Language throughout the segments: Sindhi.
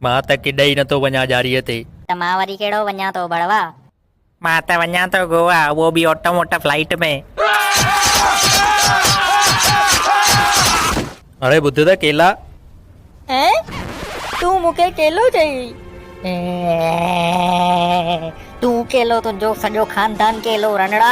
مان ته ڪيڏي ئي نٿو وڃان ڄاريء تي. ته مان وري ڪهڙو وڃان ٿو ڀڙوا. مان ته وڃان ٿو گووا اهو به آٽو موٽو فلائيٽ ۾. اڙي ٻڌ ته ڪيلا. اين تون مون کي ڪيلو چئي. اين تون ڪيلو تنهنجو سڄو خاندان ڪيلو رنڙا.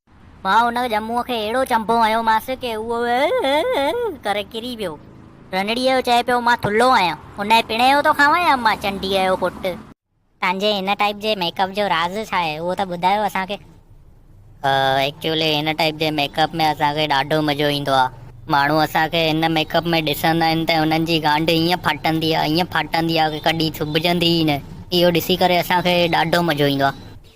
مان ان ڄمون کي اهڙو چنبو هنيومانس ڪي اهو اهه اهه اهه ڪري ڪري ويو. رنڙيء جو چئي پيو، مان ٿلهو آهيان، انهيء پڻهي جو ٿو کانوان يا امان چنڊيء جو پٽ؟ تنهنجي هن ٽائيپ جي ميڪ اپ جو راز ڇا آهي، اهو ته ٻڌايو اسان کي؟ ايڪچولي هن ٽائيپ جي ميڪ اپ ۾ اسان کي ڏاڍو مزو ايندو آهي. ماڻهو اسان کي هن ميڪ اپ ۾ ڏسندا آهن ته انهن جي گانڊ ائين ڦاٽندي آهي، ائين ڦاٽندي آهي ڪي ڪڏهن سبجندي ئي نه. اهو ڏسي ڪري اسان کي ڏاڍو مزو ايندو آهي.